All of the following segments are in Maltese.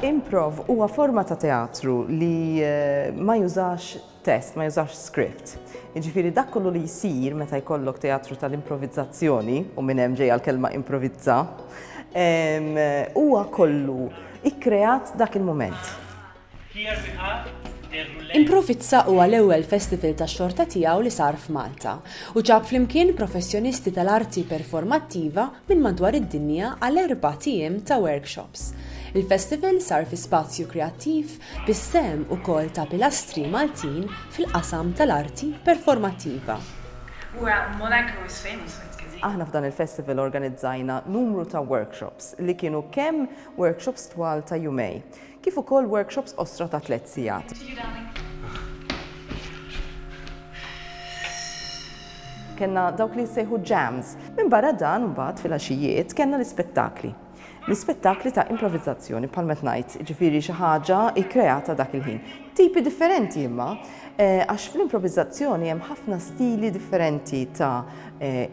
Improv huwa forma ta' teatru li ma jużax test, ma jużax script. Jiġifieri dak kollu li jsir meta jkollok teatru tal-improvizzazzjoni, u minn hemm ġejja l-kelma improvizza, huwa kollu ikkreat dak il-mument. Improvizza huwa l-ewwel festival tax-xorta tiegħu li sar f'Malta u ġab flimkien professjonisti tal-arti performattiva minn madwar id-dinja għal erbat ijiem ta' workshops. Il-festival sar fi spazju kreattiv bis-sehem ukoll ta' pilastri Maltin fil-qasam tal-arti performattiva. Aħna f'dan il-festival organizzajna numru ta' workshops li kienu kemm workshops twal ta' jumej, kif ukoll workshops qosra ta' tliet sigħat. Kellna dawk li jissejħu jams. Minbarra dan, imbagħad fil-għaxijiet kellna l-ispettakli. L-ispettakli ta' improvizzazzjoni bħal ma qed ngħid, jiġifieri xi ħaġa kkreata dak il-ħin. Tipi differenti imma, għax fl-improvizzazzjoni hemm ħafna stili differenti ta'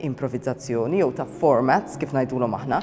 improvizzazzjoni jew ta' formats kif ngħidulhom aħna.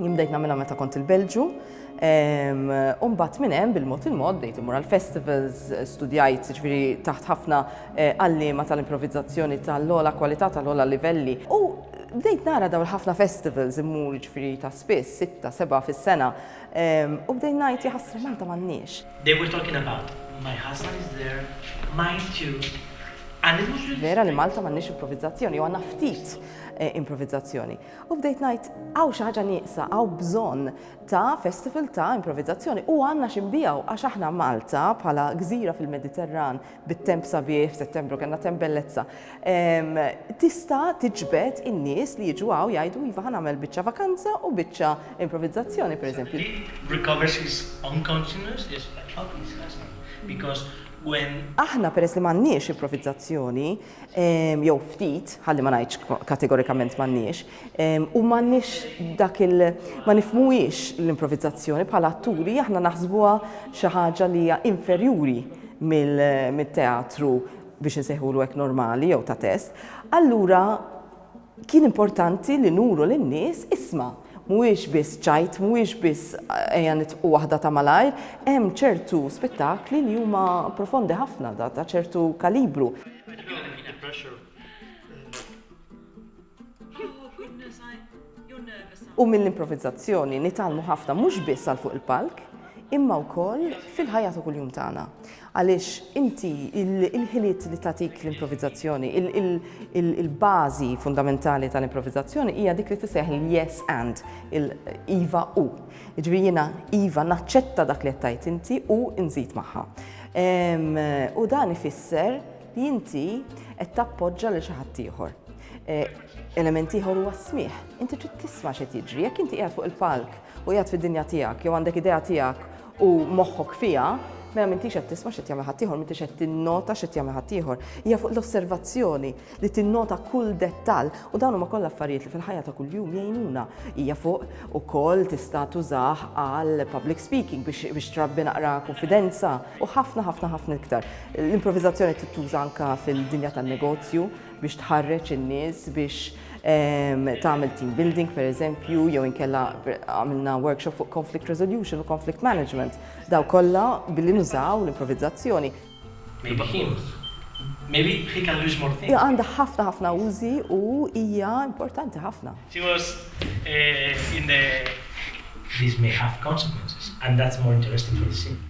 Jien bdejt nagħmilha meta kont il-Belġu. U mbagħad minn hemm bil-mod il-mod bdejt imur għal festivals, studjajt ġifieri taħt ħafna eh, għalliema tal-improvizzazzjoni tal-ola kwalità tal-ola livelli. U bdejt nara daw il-ħafna festivals immur ġifieri ta' spiss, sitta, seba' fis-sena. U bdejt ngħid jaħasra Malta m'għandniex. They were talking about my husband is there, mine too. And it was really Vera li Malta m'għandniex improvizzazzjoni u għandna ftit eh, improvizzazzjoni. U bdejt ngħid hawn xi ħaġa nieqsa, hawn bżonn ta' festival ta' improvizzazzjoni u għandna xi nbiegħu għax aħna Malta bħala gżira fil-Mediterran bit-temp sabiħ, f'Settembru kellna temp bellezza, tista' tiġbed in-nies li jiġu hawn jgħidu iva ħa nagħmel biċċa vakanza u biċċa improvizzazzjoni pereżempju. Aħna peress li m'għandniex improvizzazzjoni, jew ftit, ħalli ma ngħidx kategorikament m'għandniex, u m'għandniex dak il ma nifmuhiex l-improvizzazzjoni bħala atturi aħna naħsbuha xi ħaġa li hija inferjuri mit-teatru biex insejħulu hekk normali jew ta' test, allura Kien importanti li nuru lin-nies, isma', mhuwiex biss ċajt, mhuwiex biss ejja nitqu waħda ta' malajr, hemm ċertu spettakli li huma profondi ħafna, ta' ċertu kalibru. U mill-improvizzazzjoni nitgħallmu ħafna mhux biss għal fuq il-palk, imma wkoll fil-ħajja ta' kuljum tagħna. Għaliex inti, il-ħiliet li tagħtik l-improvizazzjoni, il-bażi fundamentali tal-improvizazzjoni hija dik li tissejjaħ il-yes and, il-iva u. Jiġifieri jiena iva naċċetta dak li qed tgħid inti u nżid magħha. U dan ifisser li inti qed tappoġġa lil xi ħadd ieħor. Element ieħor huwa s-smigħ. Inti trid tisma' x'qed jiġri. Jekk inti qiegħed fuq il-palk u qiegħed fid-dinja tiegħek jew għandek idea tiegħek u moħħok fiha, mela m'intix qed tisma' x'qed jagħmel ħaddieħor, m'intix qed tinnota x'qed jagħmel ħaddieħor. Hija fuq l-osservazzjoni li tinnota kull dettall u dawn huma kollha affarijiet li fil-ħajja ta' kuljum jgħinuna. Hija fuq ukoll tista' tużah għal public speaking biex trabbi naqra kunfidenza u ħafna ħafna ħafna iktar. L-improvizazzjoni tittuża anke fil-dinja tan-negozju biex tħarreġ in-nies biex ehm, tagħmel team building pereżempju jew inkella għamilna workshop fuq conflict resolution u conflict management. Daw kollha billi nużaw l-improvizzazzjoni. Maybe he was. Maybe he can lose more things. Għandha ħafna ħafna użi u hija importanti ħafna. She was uh, in the These may have consequences and that's more interesting for the scene.